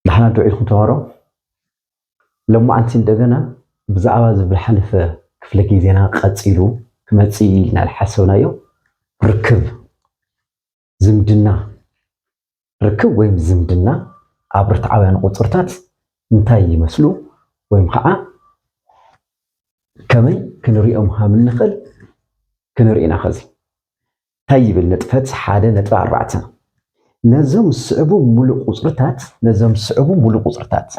ድሓና ዶ ኢልኩም ተማሃሮ ሎማዓንቲ እንደገና ብዛዕባ እዚ ዝሓለፈ ክፍለ ግዜና ቀጺሉ ክመጽእ እዩ ኢልና ዝሓሰብናዮ ርክብ ዝምድና ርክብ ወይም ዝምድና ኣብ ርትዓውያን ቁጽርታት እንታይ ይመስሉ ወይም ከዓ ከመይ ክንሪኦም ሃም እንኽእል ክንርኢ ኢና ኸዚ ታይ ይብል ንጥፈት ሓደ ነጥቢ ኣርባዕተ፣ ነዞም ዝስዕቡ ሙሉእ ቁፅርታት ነዞም ዝስዕቡ ሙሉእ ቁፅርታት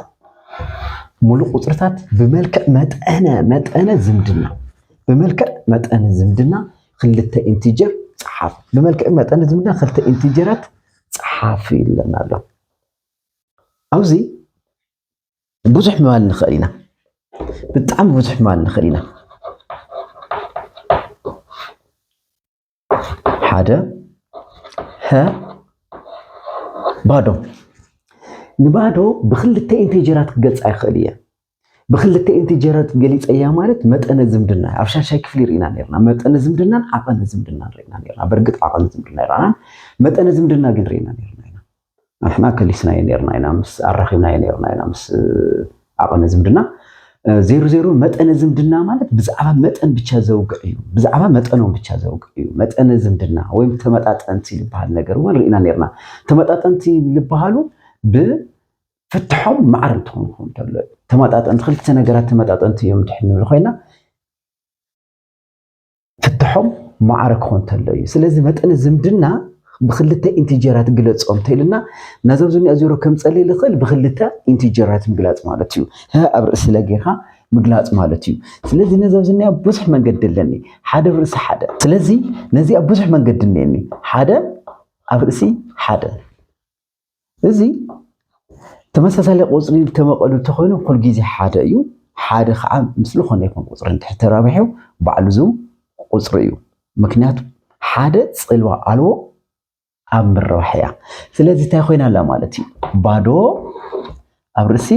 ሙሉእ ቁፅርታት ብመልክዕ መጠነ መጠነ ዝምድና ብመልክዕ መጠነ ዝምድና ክልተ ኢንቲጀር ፀሓፍ ብመልክዕ መጠነ ዝምድና ክልተ ኢንቲጀራት ፀሓፍ ይብለና ኣሎ። ኣብዚ ብዙሕ ምባል ንኽእል ኢና፣ ብጣዕሚ ብዙሕ ምባል ንኽእል ኢና። ሓደ ሀ ባዶ ንባዶ ብክልተ ኢንቴጀራት ክገልፃ ይኽእል እየ። ብክልተ ኢንቴጀራት ገሊፀያ ማለት መጠነ ዝምድና ኣብ ሻሻይ ክፍሊ ርኢና ነርና። መጠነ ዝምድናን ዓቐነ ዝምድናን ርኢና ነርና። በርግጥ ዓቐነ ዝምድና ይረኣናን መጠነ ዝምድና ግን ርኢና ነርና ኢና። ንሕና ከሊስናዮ ኔርና ኢና ምስ ኣራኺብናዮ ኔርና ኢና ምስ ዓቐነ ዝምድና ዜሩ ዜሩ መጠነ ዝምድና ማለት ብዛዕባ መጠን ብቻ ዘውግዕ እዩ ብዛዕባ መጠኖም ብቻ ዘውግዕ እዩ መጠነ ዝምድና ወይም ተመጣጠንቲ ዝበሃል ነገር እውን ርኢና ኔርና ተመጣጠንቲ ዝበሃሉ ብ ፍትሖም ማዕረ እንትኾኑ ክኸውን ተሎ ተመጣጠንቲ ክልተ ነገራት ተመጣጠንቲ እዮም ድሕን ንብል ኮይና ፍታሖም ማዕረ ክኾን ተሎ እዩ። ስለዚ መጠነ ዝምድና ብክልተ ኢንቲጀራት ግለጾ እንተኢልና ነዞም ዝኒኦ ዜሮ ከምጸልይ ዝኽእል ብክልተ ኢንቲጀራት ምግላጽ ማለት እዩ። ህ ኣብ ርእሲ ለ ጌርካ ምግላጽ ማለት እዩ። ስለዚ ነዚ ኣብዚ እኒኣ ብዙሕ መንገዲ ኣለኒ ሓደ ኣብ ርእሲ ሓደ። ስለዚ ነዚኣ ብዙሕ መንገዲ እኒኤኒ ሓደ ኣብ ርእሲ ሓደ። እዚ ተመሳሳሊ ቁፅሪ ተመቐሉ እንተኾይኑ ኩሉ ግዜ ሓደ እዩ። ሓደ ከዓ ምስ ዝኾነ ይኹን ቁፅሪ እንድሕር ተራቢሑ ባዕሉ ዝው ቁፅሪ እዩ። ምክንያቱ ሓደ ፅልዋ ኣልቦ ኣብ ምርባሕ እያ። ስለዚ እንታይ ኮይና ኣላ ማለት እዩ ባዶ ኣብ ርእሲ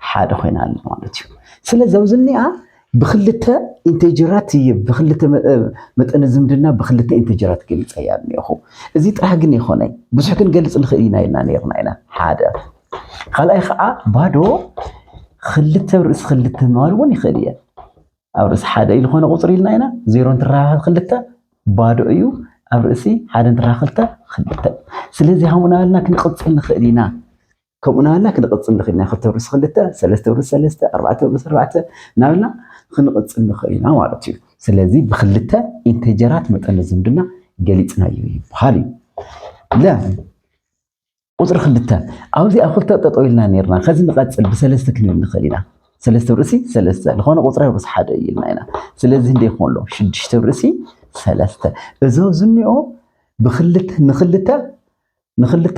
ሓደ ኮይና ኣላ ማለት እዩ። ስለዚ ኣብዚ እኒኣ ብክልተ ኢንቴጀራት እየ ብክልተ መጠነ ዝምድና ብክልተ ኢንቴጀራት ገሊፀ እያ እኒኹ። እዚ ጥራሕ ግን ኣይኮነይ ብዙሕ ክንገልፅ ንኽእል ኢና ኢልና ነይርና ኢና ሓደ ካልኣይ ከዓ ባዶ ክልተ ርእሲ ክልተ ምባል እውን ይኽእል እየ ኣብ ርእሲ ሓደ እዩ ዝኾነ ቁፅሪ ኢልና ኢና ዜሮ እንትራኸብ ክልተ ባዶ እዩ ኣብ ርእሲ ሓደ እንትራኸብ ክልተ ክልተ ስለዚ ሃሙናልና ክንቅፅል ንኽእል ኢና ከምኡ ናበልና ክንቕፅል ንኽእል ኢና። ክልተ ውርስ ክልተ፣ ሰለስተ ውርስ ሰለስተ፣ ኣርባዕተ ውርስ ኣርባዕተ ናበልና ክንቕፅል ንኽእል ኢና ማለት እዩ። ስለዚ ብክልተ ኢንቴጀራት መጠነ ዝምድና ገሊፅናዮ ይበሃል እዩ። ለ ቁፅሪ ክልተ ኣብዚ ኣብ ክልተ ጠጠው ኢልና ነርና ከዚ ንቐፅል ብሰለስተ ክንብል ንኽእል ኢና ሰለስተ ርእሲ ሰለስተ ዝኾነ ቁፅሪ ርእሲ ሓደ እዩ ኢልና ኢና ስለዚ እንደ ይኾን ኣሎ ሽዱሽተ ርእሲ ሰለስተ እዞ ዝኒኦ ብክልተ ንክልተ ንክልተ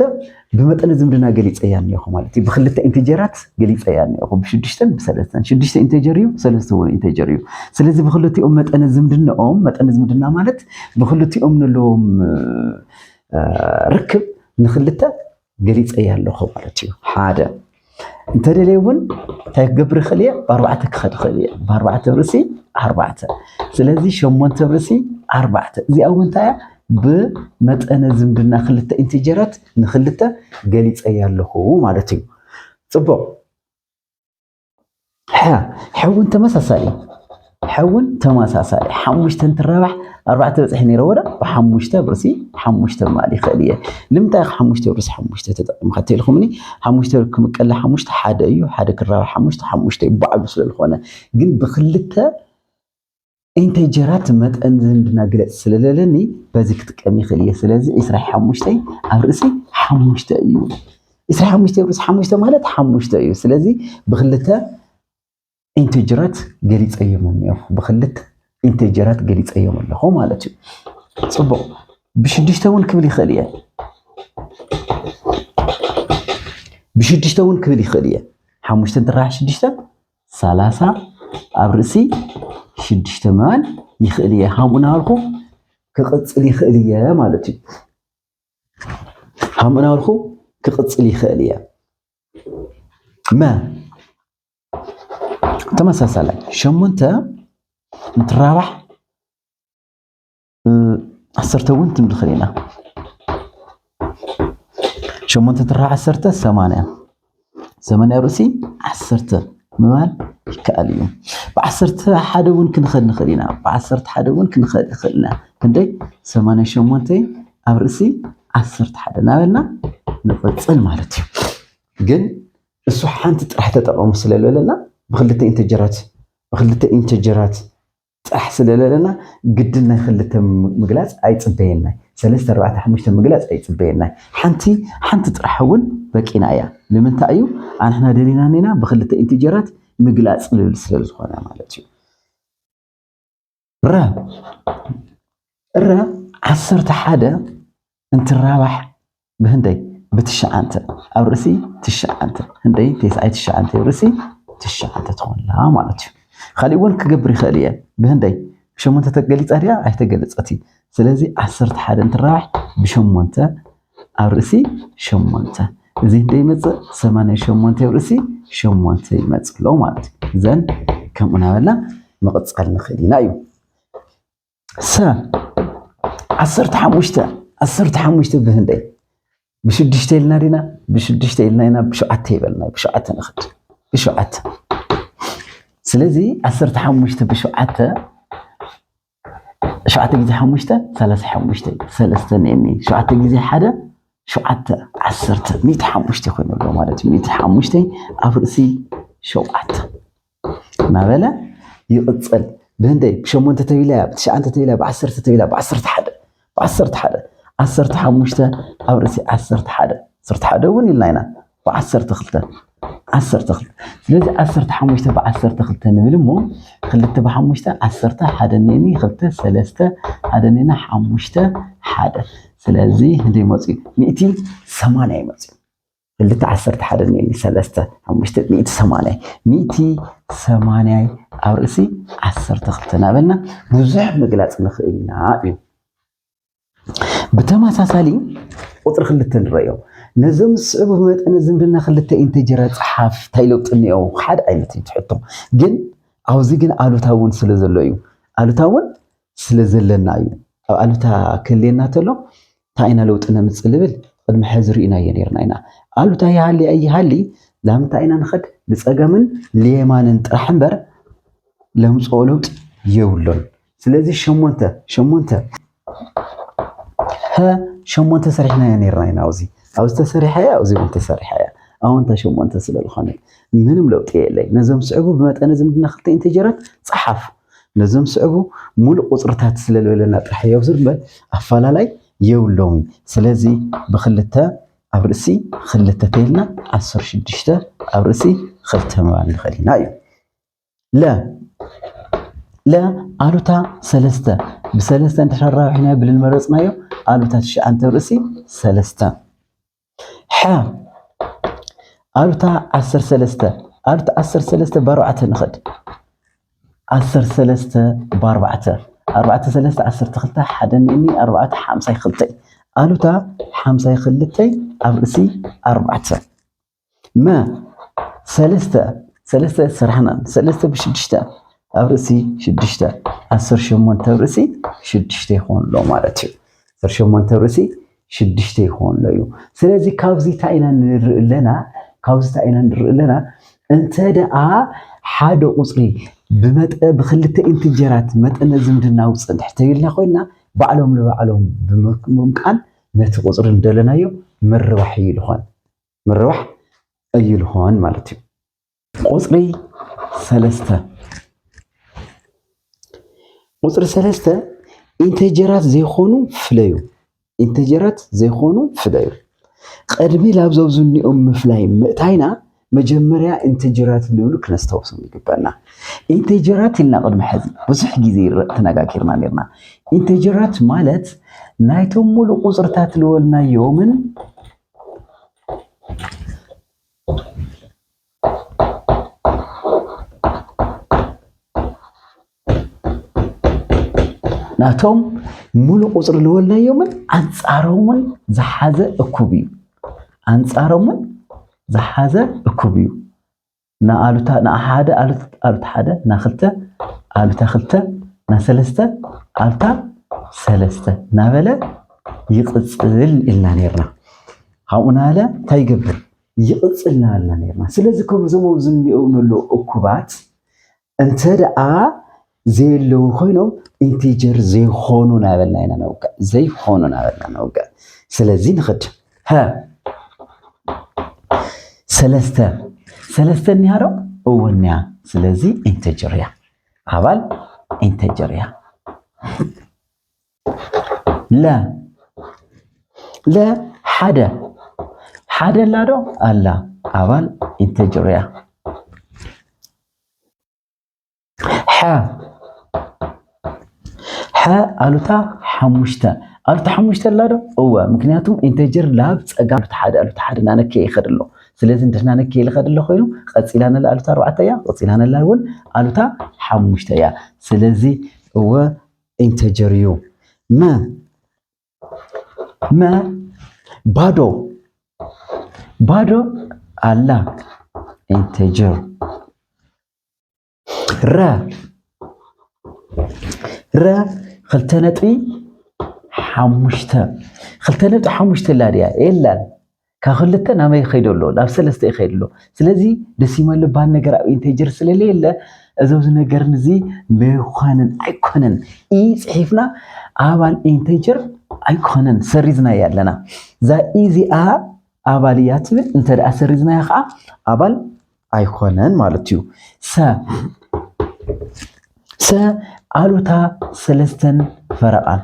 ብመጠነ ዝምድና ገሊፀያ እኒኦኹ ማለት እዩ። ብክልተ ኢንቴጀራት ገሊፀያ እኒኦኹ ብሽዱሽተን ብሰለስተን። ሽዱሽተ ኢንቴጀር እዩ፣ ሰለስተ እውን ኢንቴጀር እዩ። ስለዚ ብክልቲኦም መጠነ ዝምድናኦም መጠነ ዝምድና ማለት ብክልቲኦም ዘለዎም ርክብ ንክልተ ገሊፀያ ኣለኹ ማለት እዩ። ሓደ እንተደልየ እውን እንታይ ክገብር ይኽእል እየ ብኣርባዕተ ክኸድ ይኽእል እየ ብኣርባዕተ ብርእሲ ኣርባዕተ ስለዚ ሸሞንተ ብርእሲ ኣርባዕተ እዚኣ እውን እንታይ እያ ብመጠነ ዝምድና ክልተ ኢንቲጀራት ንክልተ ገሊፀያ ኣለኹ ማለት እዩ ፅቡቅ ሕውን ተመሳሳሊ ሕውን ተመሳሳሊ ሓሙሽተ እንትራባሕ ኣርባዕተ በፅሒ ነይረ ወዳ ብሓሙሽተ ብርሲ ሓሙሽተ ማል ይኽእል እየ ልምንታይ ሓሙሽተ ብርሲ ሓሙሽተ ተጠቂምካ ተልኩምኒ ሓሙሽተ ክምቀለ ሓሙሽተ ሓደ እዩ ሓደ ክራባሕ ሓሙሽተ ሓሙሽተ እዩ ባዕሉ ስለዝኾነ ግን ብክልተ ኢንተይ ጀራት መጠን ዝምድና ግለጽ ስለለለኒ በዚ ክጥቀም ይኽእል እየ ስለዚ ዕስራ ሓሙሽተይ ኣብ ርእሲ ሓሙሽተ እዩ ዕስራ ሓሙሽተይ ርእሲ ሓሙሽተ ማለት ሓሙሽተ እዩ ስለዚ ብክልተ ኢንተጀራት ገሊፀዮም እኒኦ ብክልተ ኢንተጀራት ገሊፀዮም ኣለኹ ማለት እዩ ፅቡቕ ብሽዱሽተ እውን ክብል ይኽእል እየ ብሽዱሽተ እውን ክብል ይኽእል እየ ሓሙሽተ እንትራሓ ሽዱሽተ ሰላሳ ኣብ ርእሲ ሽዱሽተ ምባል ይኽእል እየ ሃምኡ ናበልኩ ክቕፅል ይኽእል እየ ማለት እዩ። ሃምኡ ናበልኩ ክቕፅል ይኽእል እየ መ ተመሳሳላይ ሸሞንተ እንትራባሕ ዓሰርተ እውን ትም ንኽእል ኢና ሸሞንተ ትራ ዓሰርተ ሰማንያ ሰማንያ ርእሲ ዓሰርተ ምባል ይከኣል እዩ ብዓሰርተ ሓደ እውን ክንኸል ንኽእል ኢና ብዓሰርተ ሓደ እውን ክንኸል ይኽእል ኢና ክንደይ ሰማንያ ሸሞንተ ኣብ ርእሲ ዓሰርተ ሓደ እናበልና ንቕፅል ማለት እዩ ግን እሱ ሓንቲ ጥራሕ ተጠቐሙ ስለለለና ብክልተ ኢንተጀራት ብክልተ ኢንተጀራት ጻሕ ስለለለና ግድን ናይ ክልተ ምግላጽ ኣይጽበየናይ ሰለስተ ኣርባዕተ ሓሙሽተ ምግላጽ ኣይጽበየናይ ሓንቲ ሓንቲ ጥራሕ እውን በቂና እያ ንምንታይ እዩ ኣንሕና ደሊና ኔና ብክልተ ኢንቲጀራት ምግላጽ ልብል ስለ ዝኾነ ማለት እዩ ረ ረ ዓሰርተ ሓደ እንትራባሕ ብህንደይ ብትሽዓንተ ኣብ ርእሲ ትሽዓንተ ህንደይ ቴስኣይ ትሽዓንተ ኣብ ርእሲ ትሽዓንተ ትኾንላ ማለት እዩ። ካሊእ እውን ክገብር ይኽእል እየ ብህንደይ ብሸሞንተ ተገሊፃ ድያ ኣይተገለፀት እዩ። ስለዚ ዓሰርተ ሓደ እንትራባሕ ብሸሞንተ ኣብ ርእሲ ሸሞንተ እዚ ህንደይ ይመፅእ ሰማንያ ሸሞንተ ኣብ ርእሲ ሸሞንተ ይመፅእ ኣሎ ማለት እዩ። እዘን ከምኡ ናበልና ምቕፃል ንኽእል ኢና እዩ። ሰ ዓሰርተ ሓሙሽተ ዓሰርተ ሓሙሽተ ብህንደይ ብሽዱሽተ ኢልና ዲና ብሽዱሽተ ኢልና ኢና ብሸውዓተ ይበልና ብሸውዓተ ንኽድ ብሸውዓተ ስለዚ ዓሰርተ ሓሙሽተ ብሸውዓተ ሸውዓተ ግዜ ሓሙሽተ ሰላሳ ሓሙሽተ ሰለስተ ኔኒ ሸውዓተ ግዜ ሓደ ሸውዓተ ዓሰርተ ሚእቲ ሓሙሽተ ኮይኑ ኣሎ ማለት እዩ ሚእቲ ሓሙሽተ ኣብ ርእሲ ሸውዓተ እናበለ ይቕጽል። ብህንደይ ብሸሞንተ ተቢላ፣ ብትሽዓንተ ተቢላ፣ ብዓሰርተ ተቢላ፣ ብዓሰርተ ሓደ፣ ብዓሰርተ ሓደ፣ ዓሰርተ ሓሙሽተ ኣብ ርእሲ ዓሰርተ ሓደ፣ ዓሰርተ ሓደ እውን ኢልና ኢና፣ ብዓሰርተ ክልተ፣ ዓሰርተ ክልተ። ስለዚ ዓሰርተ ሓሙሽተ ብዓሰርተ ክልተ ንብል እሞ ክልተ ብሓሙሽተ ዓሰርተ ሓደ ኔኒ ክልተ ሰለስተ ሓደ ኔና ሓሙሽተ ሓደ። ስለዚ ህንደይ መፅኡ ሚእቲ ሰማንያ ይመፅኡ። ክልተ ዓሰርተ ሓደ ንየኒ ሰለስተ ሓሙሽተ ሚእቲ ሰማንያይ ሚእቲ ሰማንያይ ኣብ ርእሲ ዓሰርተ ክልተ እናበልና ብዙሕ ምግላፅ ንኽእል ኢና እዩ። ብተመሳሳሊ ቁፅሪ ክልተ ንረዮ ነዞም ዝስዕቡ ብመጠነ ዝምድና ክልተ ኢንተጀራ ፀሓፍ እንታይ ለውጢ እኒኦ ሓደ ዓይነት እዩ ትሕቶ ግን ኣብዚ ግን ኣሉታ እውን ስለ ዘሎ እዩ ኣሉታ እውን ስለ ዘለና እዩ። ኣብ ኣሉታ ክህልየና ተሎ ታይ ኢና ለውጢ ነምፅእ ልብል ቕድሚ ሐዚ ሪእናዮ ነይርና ኢና። ኣሉታ ይሃሊ ኣይሃሊ ላምንታይ ኢና ንኸድ ልፀገምን ልየማንን ጥራሕ እምበር ለምፅኦ ለውጢ የብሉን። ስለዚ ሸሞንተ ሸሞንተ ሀ ሸሞንተ ሰሪሕናዮ ነይርና ኢና። ኣብዚ ኣብዚ ተሰሪሐ እያ ኣብዚ እውን ተሰሪሐ እያ። ኣወንታ ሸሞንተ ስለ ዝኾነት ምንም ለውጢ የለይ። ነዞም ስዕቡ ብመጠነ ዝምድና ክልተ ኢንተጀራት ፀሓፍ። ነዞም ስዕቡ ሙሉእ ቁፅርታት ስለልበለና ጥራሕ የብዙር እምበር ኣፋላላይ የብሎምን። ስለዚ ብክልተ ኣብ ርእሲ ክልተ ተይልና ዓሰርተ ሽዱሽተ ኣብ ርእሲ ክልተ ምባል ንኽእል ኢና እዩ። ለ ለ ኣሉታ ሰለስተ ብሰለስተ እንድሕር ኣራዊሕናዮ ብልንመረፅናዮ ኣሉታ ትሽዓንተ ኣብ ርእሲ ሰለስተ ሐ ኣብታ ዓሰርተ ሰለስተ ኣብቲ ዓሰርተ ሰለስተ ብኣርባዕተ ንኸድ ዓሰርተ ሰለስተ ብኣርባዕተ ኣርባዕተ ሰለስተ ዓሰርተ ክልተ ሓደ እኒ ኣርባዕተ ሓምሳይ ክልተይ ኣሉታ ሓምሳይ ክልተይ ኣብ ርእሲ ኣርባዕተ መ ሰለስተ ሰለስተ ስራሕና ሰለስተ ብሽዱሽተ ኣብ ርእሲ ሽዱሽተ ዓሰርተ ሸሞንተ ኣብ ርእሲ ሽዱሽተ ይኸውን ኣሎ ማለት እዩ ዓሰርተ ሸሞንተ ኣብ ርእሲ ሽዱሽተ ይኾንሎ እዩ ስለዚ ካብዚ እንታይ ኢና ንርኢ ኣለና ካብዚ እንታይ ኢና ንርኢ ኣለና እንተ ደኣ ሓደ ቁፅሪ ብመጠ ብክልተ ኢንትጀራት መጠነ ዝምድናዊ ፅንሕ ተይልና ኮይና ባዕሎም ንባዕሎም ብምምቃል ነቲ ቁፅሪ እንደለናዮ ምርባሕ እዩ ልኾን ምርባሕ እዩ ልኾን ማለት እዩ ቁፅሪ ሰለስተ ቁፅሪ ሰለስተ ኢንተጀራት ዘይኮኑ ፍለዩ ኢንተጀራት ዘይኮኑ ፍለዩ ቅድሚ ላብ ዘብዝኒኦም ምፍላይ ምእታይና መጀመርያ ኢንተጀራት ንብሉ ክነስተውሶም ይግበና ኢንተጀራት ኢልና ቅድሚ ሕዚ ብዙሕ ግዜ ተነጋጊርና ነርና ኢንተጀራት ማለት ናይቶም ሙሉእ ቁፅርታት ልወልናዮምን ናቶም ሙሉእ ቁፅሪ ዝወልናዮምን ኣንፃሮምን ዝሓዘ እኩብ እዩ ኣንፃሮምን ዝሓዘ እኩብ እዩ ንኣሉታ ንሓደ ኣሉታ ሓደ ናክልተ ኣሉታ ክልተ ናሰለስተ ኣሉታ ሰለስተ ናበለ ይቕፅል ኢልና ነርና ኣብኡ ናለ እንታይ ይገብር ይቕፅል ናልና ነርና። ስለዚ ከምዞም ኣብዚ እንሪኦም ንሎ እኩባት እንተ ደኣ ዘየለዉ ኮይኖም ኢንቲጀር ዘይኾኑ ናበልና ኢና ነውግዕ ዘይኾኑ ናበልና ነውግዕ። ስለዚ ንኽድ ሀ ሰለስተ ሰለስተ እኒሃ ዶ እወ እኒሃ። ስለዚ ኢንቲጀር እያ ኣባል ኢንቲጀር እያ። ለ ለ ሓደ ሓደ ኣላ ዶ ኣላ ኣባል ኢንተጀር እያ ሐ ሐ ኣሉታ ሓሙሽተ ኣሉታ ሓሙሽተ ኣላ ዶ እወ ምክንያቱ ኢንተጀር ላብ ፀጋ ኣሉታ ሓደ ኣሉታ ሓደ ናነከ ይኸድ ኣሎ ስለዚ እንድሕና ነከ ይኸድ ኣሎ ኮይኑ ቀፂላ ነላ ኣሉታ ኣርባዕተ እያ ቀፂላ ነላ እውን ኣሉታ ሓሙሽተ እያ ስለዚ እወ ኢንተጀር እዩ። መ መ ባዶ ባዶ ኣላ ኢንተጀር ረ ረ ክልተ ነጥቢ ሓሙሽተ ክልተ ነጥቢ ሓሙሽተ ኣላ ድያ የላን ካብ ክልተ ናበይ ይኸይድ ኣሎ? ናብ ሰለስተ ይኸይድ ኣሎ። ስለዚ ደሲማል ዝበሃል ነገር ኣብ ኢንቴጀር ስለለየለ እዚ ኣብዚ ነገር እዚ መይኳንን ኣይኮነን ኢ ፅሒፍና ኣባል ኢንቴጀር ኣይኮነን ሰሪዝናያ ኣለና እዛ ኢዚኣ ኣባል እያ ትብል እንተደኣ ሰሪዝናያ ከዓ ኣባል ኣይኮነን ማለት እዩ። ሰ ሰ ኣሉታ ሰለስተን ፈረቓን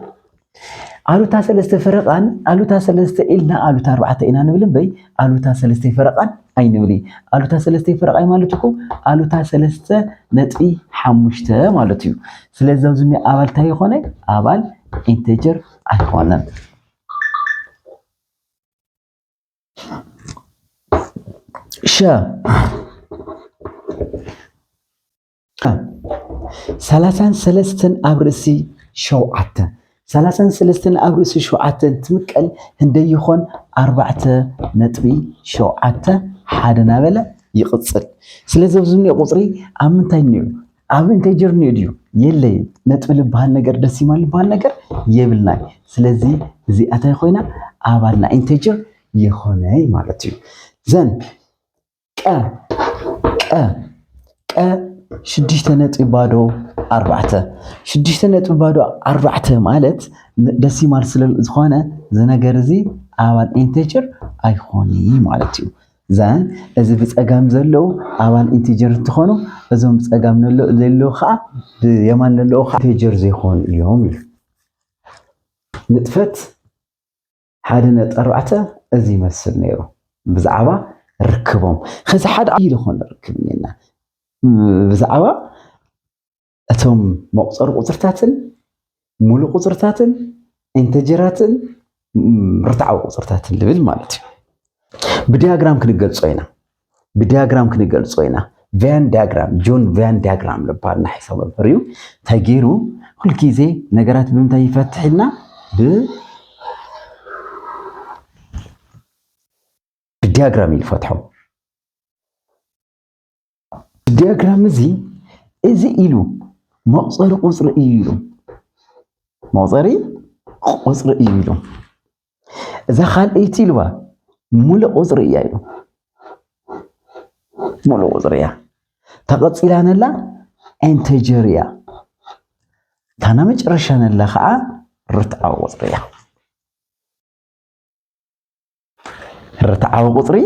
ኣሉታ ሰለስተ ፈረቓን ኣሉታ ሰለስተ ኢልና ኣሉታ ኣርባዕተ ኢና ንብል እምበይ ኣሉታ ሰለስተ ፈረቓን ኣይንብል ኣሉታ ሰለስተ ፈረቓይ ማለት እኮ ኣሉታ ሰለስተ ነጥቢ ሓሙሽተ ማለት እዩ ስለዚ ኣብዚ እኒ ኣባል እንታይ ይኾነ ኣባል ኢንቴጀር ኣይኮነን ሸ ሰላሳን ሰለስተን ኣብ ርእሲ ሸውዓተ ሰላሳን ሰለስተን ኣብ ርእሲ ሸውዓተ እንትምቀል ህንደይ ይኾን ኣርባዕተ ነጥቢ ሸውዓተ ሓደ ናበለ ይቕፅል። ስለዚ ኣብዚ እኒኦ ቁፅሪ ኣብ ምንታይ እኒኦ ኣብ ኢንቴጀር ኒኡ ድዩ የለይ ነጥቢ ልበሃል ነገር ደሲማል ልበሃል ነገር የብልናይ ስለዚ እዚኣ ታይ ኮይና ኣባል ናይ ኢንቴጀር የኾነይ ማለት እዩ ዘን ቀ ቀ ቀ ሽዱሽተ ነጥቢ ባዶ ኣርባዕተ ሽዱሽተ ነጥቢ ባዶ ኣርባዕተ ማለት ደሲማል ስለዝኾነ እዚ ነገር እዚ ኣባል ኢንቴጀር ኣይኾነይ ማለት እዩ ዛን እዚ ብጸጋም ዘለዉ ኣባል ኢንቲጀር እንትኾኑ እዞም ብጸጋም ነሎ ዘለዉ ከኣ ብየማን ነለዉ ከኣ ኢንቲጀር ዘይኮኑ እዮም ኢሉ። ንጥፈት ሓደ ነጥቢ ኣርባዕተ እዚ ይመስል ነይሩ ብዛዕባ ርክቦም። ከዚ ሓደ ዓብዪ ዝኾነ ርክብ እኔና ብዛዕባ እቶም መቁፀሪ ቁፅርታትን ሙሉእ ቁፅርታትን ኢንተጀራትን ርትዓዊ ቁፅርታትን ልብል ማለት እዩ ብዲያግራም ክንገልፆ ኢና ብዲያግራም ክንገልፆ ኢና ቫን ዲያግራም ጆን ቫን ዲያግራም ልባል ናሒሶ መምህር እዩ እንታይ ገይሩ ኩልግዜ ነገራት ብምንታይ ይፈትሕ ኢልና ብዲያግራም እዩ ይፈትሖም ዲያግራም እዚ እዚ ኢሉ መቁፀሪ ቁፅሪ እዩ ኢሉ መቁፀሪ ቁፅሪ እዩ ኢሉ እዛ ካልኣይቲ ኢልዋ ሙሉእ ቁፅሪ እያ ኢሉ ሙሉእ ቁፅሪ እያ ተቐፂላ ነላ ኢንተጀር እያ ታና መጨረሻ ነላ ከዓ ርትዓዊ ቁፅሪ እያ ርትዓዊ ቁፅሪ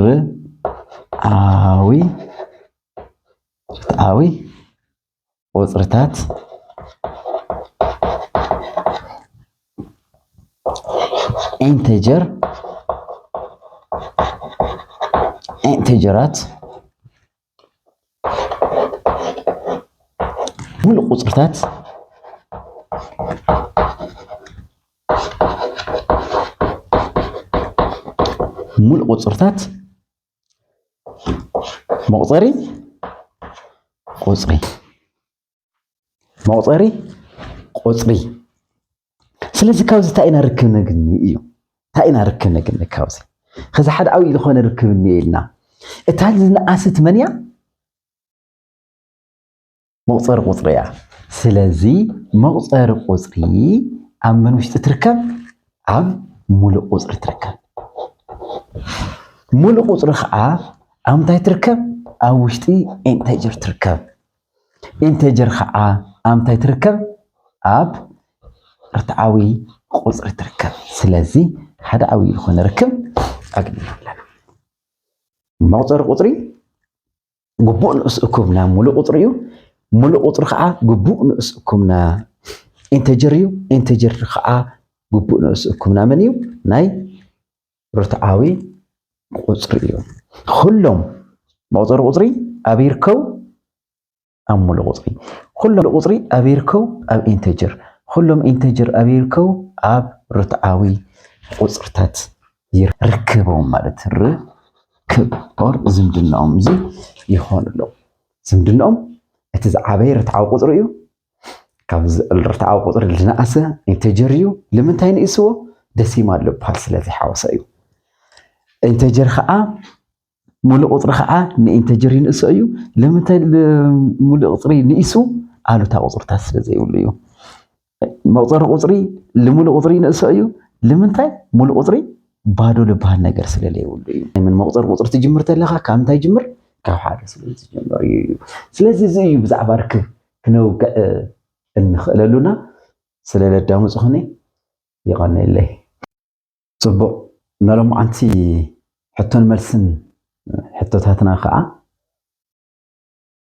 ርትዓዊ ርትዓዊ ቁፅርታት ኢንተጀር ኢንተጀራት ሙሉእ ቁፅርታት ሙሉእ ቁፅርታት መቁፀሪ ቁፅሪ መቑፀሪ ቁፅሪ ስለዚ ካብዚ እንታይ ኢና ርክብ ነግኒ እዩ እንታይ ኢና ርክብ ነግኒ ካብዚ ከዚ ሓደ ዓብዪ ዝኾነ ርክብ እኒአ ኢልና እታ ዝነኣሰት መን እያ መቑፀሪ ቁፅሪ እያ ስለዚ መቑፀሪ ቁፅሪ ኣብ መን ውሽጢ ትርከብ ኣብ ሙሉእ ቁፅሪ ትርከብ ሙሉእ ቁፅሪ ከዓ ኣብ እንታይ ትርከብ ኣብ ውሽጢ ኢንተጀር ትርከብ ኢንተጀር ኸዓ ኣብ እንታይ ትርከብ? ኣብ ርትዓዊ ቁፅሪ ትርከብ። ስለዚ ሓደ ዓብዪ ዝኾነ ርክብ ኣግኒና ኣለና። መቑፀሪ ቁፅሪ ግቡእ ንኡስ እኩብ ናብ ሙሉእ ቁፅሪ እዩ። ሙሉእ ቁፅሪ ኸዓ ግቡእ ንኡስ እኩብ ና ኢንተጀር እዩ። ኢንተጀር ኸዓ ግቡእ ንኡስ እኩብ ናመን እዩ? ናይ ርትዓዊ ቁፅሪ እዩ። ኩሎም መቁፀሪ ቁፅሪ ኣብ ይርከቡ ኣብ ሙሉእ ቁፅሪ፣ ኩሎም ቁፅሪ ኣብ ይርከቡ ኣብ ኢንተጀር፣ ኩሎም ኢንተጀር ኣብ ይርከቡ ኣብ ርትዓዊ ቁፅርታት ይርከቦም ማለት ርክብ ኦር ዝምድናኦም እዚ ይኾን ኣሎ። ዝምድናኦም እቲ ዝዓበየ ርትዓዊ ቁፅሪ እዩ። ካብዚ ርትዓዊ ቁፅሪ ዝነኣሰ ኢንተጀር እዩ ልምንታይ ንእስዎ ደሲማል ልብሃል ስለዘይሓወሰ እዩ ኢንተጀር ከዓ ሙሉእ ቁፅሪ ከዓ ንኢንተጀር ይንእሶ እዩ ልምንታይ ሙሉእ ቁፅሪ ንኢሱ ኣሉታ ቁፅርታት ስለዘይብሉ እዩ መቁፀሪ ቁፅሪ ልሙሉእ ቁፅሪ ይንእሶ እዩ ልምንታይ ሙሉእ ቁፅሪ ባዶ ልብሃል ነገር ስለዘይብሉ እዩ ምን መቁፀሪ ቁፅሪ ትጅምር ተለካ ካብ እንታይ ጅምር ካብ ሓደ ስለ ዝጅምር እዩ ስለዚ እዚ እዩ ብዛዕባ ርክብ ክነውግዕ እንኽእለሉና ስለ ለዳመጽኹኒ ይቐንየለይ። ጽቡቕ ነሎምዓንቲ ሕቶን መልስን ሕቶታትና ከኣ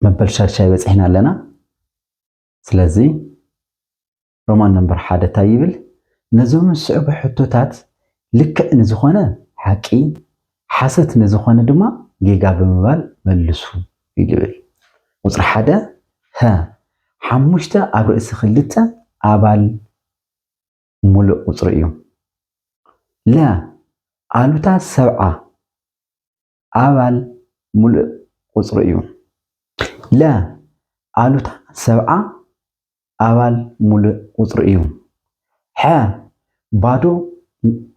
መበል ሻድሻይ በጺሕና ኣለና ስለዚ ሮማን ነምበር ሓደ ታይ ይብል? ነዞም ዝስዕቡ ሕቶታት ልክዕ ንዝኾነ ሓቂ፣ ሓሰት ንዝኾነ ድማ ጌጋ ብምባል መልሱ ይብል። ቁፅሪ ሓደ፣ ሀ ሓሙሽተ ኣብ ርእሲ ክልተ ኣባል ሙሉእ ቁፅሪ እዩ። ለ ኣሉታ ሰብዓ ኣባል ሙሉእ ቁፅሪ እዩ። ለ ኣሉታ ሰብዓ ኣባል ሙሉእ ቁፅሪ እዩ። ሐ ባዶ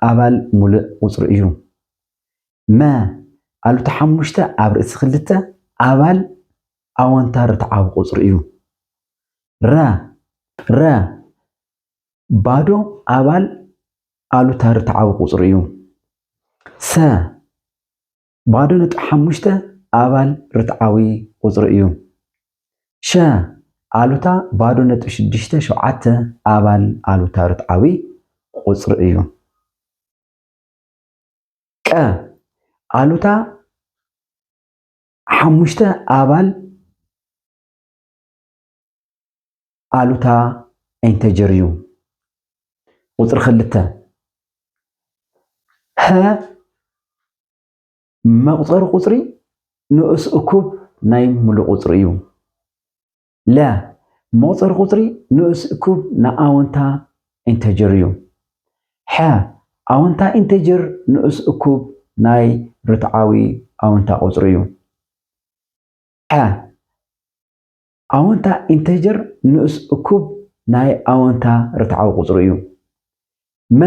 ኣባል ሙሉእ ቁፅሪ እዩ። መ ኣሉታ ሓሙሽተ ኣብ ርእሲ ክልተ ኣባል ኣወንታ ርትዓዊ ቁፅሪ እዩ። ረ ረ ባዶ ኣባል ኣሉታ ርትዓዊ ቁጽሪ እዩ። ሰ። ባዶ ነጥቢ ሓሙሽተ ኣባል ርትዓዊ ቁጽሪ እዩ። ሸ። ኣሉታ ባዶ ነጥቢ ሽዱሽተ ሸውዓተ ኣባል ኣሉታ ርትዓዊ ቁጽሪ እዩ። ቀ። ኣሉታ ሓሙሽተ ኣባል ኣሉታ ኢንተጀር እዩ። ቁፅሪ ክልተ ሀ መቁፀሪ ቁፅሪ ንኡስ እኩብ ናይ ሙሉእ ቁፅሪ እዩ። ለ መቁፀሪ ቁፅሪ ንኡስ እኩብ ናይ ኣወንታ ኢንተጀር እዩ። ሐ ኣወንታ ኢንተጀር ንኡስ እኩብ ናይ ርትዓዊ ኣወንታ ቁፅሪ እዩ። ሐ ኣወንታ ኢንተጀር ንኡስ እኩብ ናይ ኣወንታ ርትዓዊ ቁጽሪ እዩ። መ።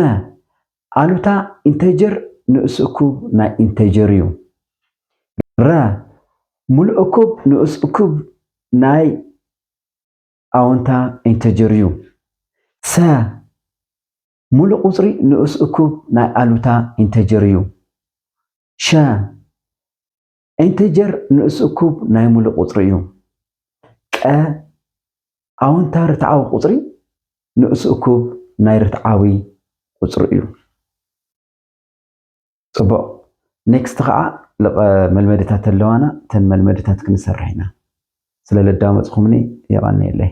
ኣሉታ ኢንተጀር ንኡስ እኩብ ናይ ኢንተጀር እዩ። ረ። ምሉእ እኩብ ንኡስ እኩብ ናይ ኣወንታ ኢንተጀር እዩ። ሰ። ምሉእ ቁጽሪ ንኡስ እኩብ ናይ ኣሉታ ኢንተጀር እዩ። ሸ። ኢንተጀር ንኡስ እኩብ ናይ ሙሉእ ቁፅሪ እዩ። ቀ ኣወንታ ርትዓዊ ቁፅሪ ንኡስ እኩብ ናይ ርትዓዊ ቁፅሪ እዩ። ፅቡቕ ኔክስት ከዓ ልቐ መልመድታት ኣለዋና ተን መልመድታት ክንሰርሕ ኢና። ስለ ለዳመፅኹምኒ የቐንየለይ።